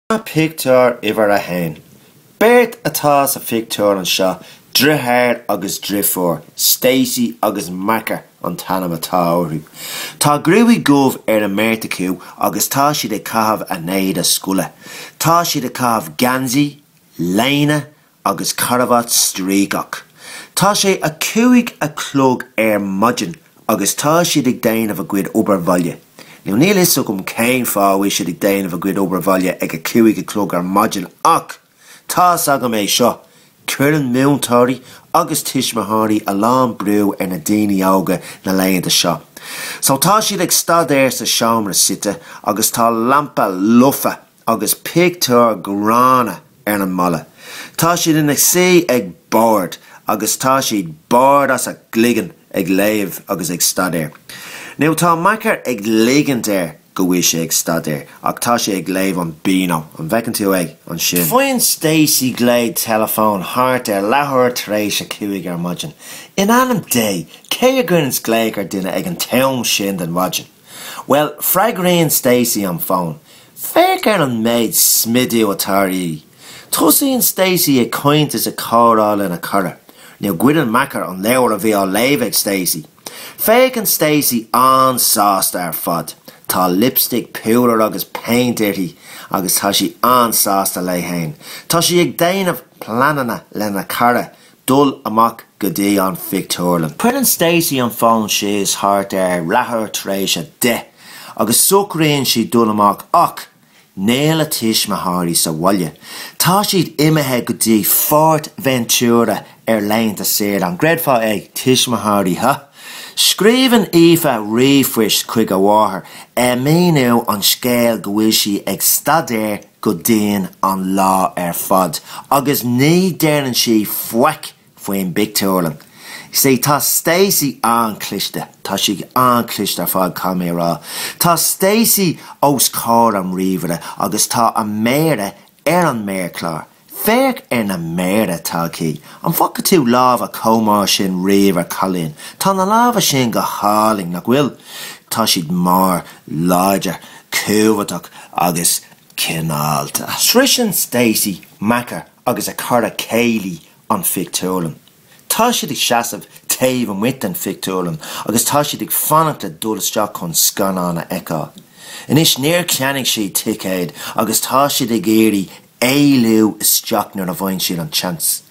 Pictiúr uimhir a haon, Beirt atá sa phictiúr anseo, deartháir agus deirfiúr, Stacey agus Makar an t-ainm atá orthu. Tá gruaig dhubh ar an mbeirt acu agus tá siad ag caitheamh a n-éide scoile. Tá siad ag caitheamh geansaí, léine agus carabhat stríogach. Tá sé a cúig a chlog ar maidin agus tá siad ag déanamh a gcuid obair bhaile. Now níl fhios agam cén fáth a bhfuil siad ag déanamh a gcuid obair bhaile ag a cúig a chlog ar maidin ach tá's agam é seo, cuireann múinteoirí agus tuismitheoirí a lán brú ar na daoine óga na laethanta seo. So tá siad ag staidéar sa seomra suite agus tá lampa, luch agus pictiúr gránna ar an mballa. Tá siad ina suí ag bord agus tá siad bord as a gcloigeann ag léamh agus ag staidéar. Now tá Makar ag ligint air go bhfuil sé ag staidéar ach tá sé ag léamh an Beano, an bhfeiceann tú é ansin. Faigheann Stacey glao teileafóin thart ar leathuair tar éis a cúig ar maidin. In ainm Dé, cé a chuireanns glaoch ar duine ag an t-am sin den mhaidin? Bhuel, freagraíonn Stacey an fón. Féach ar an méid smidiú atá uirthi! Tosaíonn Stacey ag caint is ag comhrá lena cara, now goideann Makar an leabhar a bhí á léamh ag Stacey. Féachann Stacey an-sásta ar fad. Tá lipstick, púdar agus péint uirthi agus tá sí an-sásta léi féin. Tá sí ag déanamh pleananna lena cara dul amach go dtí an phictiúrlann. Cuireann Stacey an fón síos thart ar leathuair tar éis a deich agus socraíonn sí dul amach ach níl a tuismitheoirí sa bhaile. Tá siad imithe go dtí Fuerteventura ar laethanta saoire, an gcreidfeá é, tuismitheoirí, huh? Scríobhann Aoife ríomhphost chuig a mháthair ag míniú an scéil go bhfuil sí ag staidéar go dian an lá ar fad agus ní deireann sí faic faoin bpictiúrlann. Sea, tá Stacey an-chliste, tá sí an-chliste ar fad, caithfidh mé a rá. Tá Stacey os comhair an ríomhaire agus tá a méara ar an méarchlár. Féach ar na méara atá aici. An bhfaca tú lámha chomh mór sin riamh ar chailín? Tá na lámha sin go hálainn, nach bhfuil? Tá siad mór, láidir, cumhachtach agus cineálta. Sroicheann Stacey, Makar agus a cara Kayleigh an phictiúrlann. Tá siad ag seasamh taobh amuigh den phictiúrlann agus tá siad ag fanacht le dul isteach chun scannán a fheiceáil. Anois, níor cheannaigh siad ticéad agus tá siad ag iarraidh éalú isteach nuair a fhaigheann siad an tseans.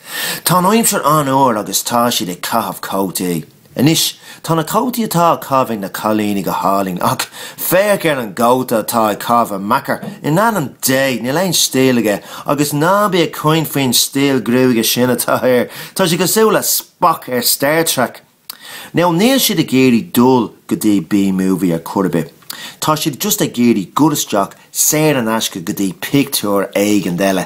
Tá an aimsir an-fhuar agus tá siad ag caitheamh cótaí. Anois, tá na cótaí atá á chaitheamh ag na cailíní go hálainn ach féach ar an gcóta atá á chaitheamh ag Meeker, in ainm Dé, níl aon stíl aige agus ná bí ag caint faoin stíl gruaige sin atá air, tá sé cosúil le Spock ar Star Trek! Now, níl siad ag iarraidh dul go dtí B-movie ar chor ar bith. Tá siad just ag iarraidh dhul isteach saor in aisce go dtí pictiúr éigin eile.